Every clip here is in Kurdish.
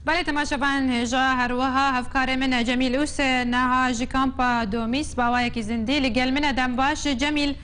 Belê temaşevan hêja her wiha hevkarê min e Cemîl Use neha ji kampa Domîs bawayekî zindî li gel min e dem baş Cemîl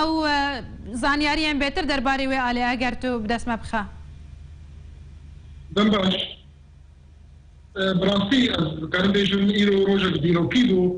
ew zanyariyên bêtir derbarî wê alê eger tu bi dest me bixe. Dem baş. Bi rastî ez dikarim bêjim îro rojek dîrokî bû.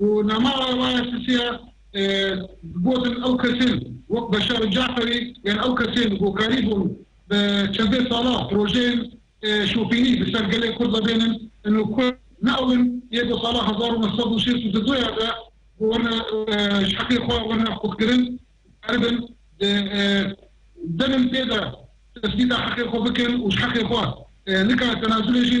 Û nama Rewaya Sisî ya gotin ew kesên wek Beşar Caferî yên ew kesên hokarî bûn bi çendê sala projeyên şopînî bi ser gelê Kurd ve bênin in û ku ne ew in yê ku sala hezar û neh sed û şêst û du ya de ku werne ji heqê xwe werne xurtkirin dikaribin di demên pê de tesbîta heqê xwe bikin û ji heqê xwe nikarin tenazulê jî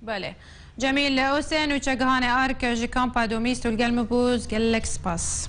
Belê. Cemîl Ose, Nûçegihanê Ark ji Kampa Domî stûl gel min bû. Gelek spas.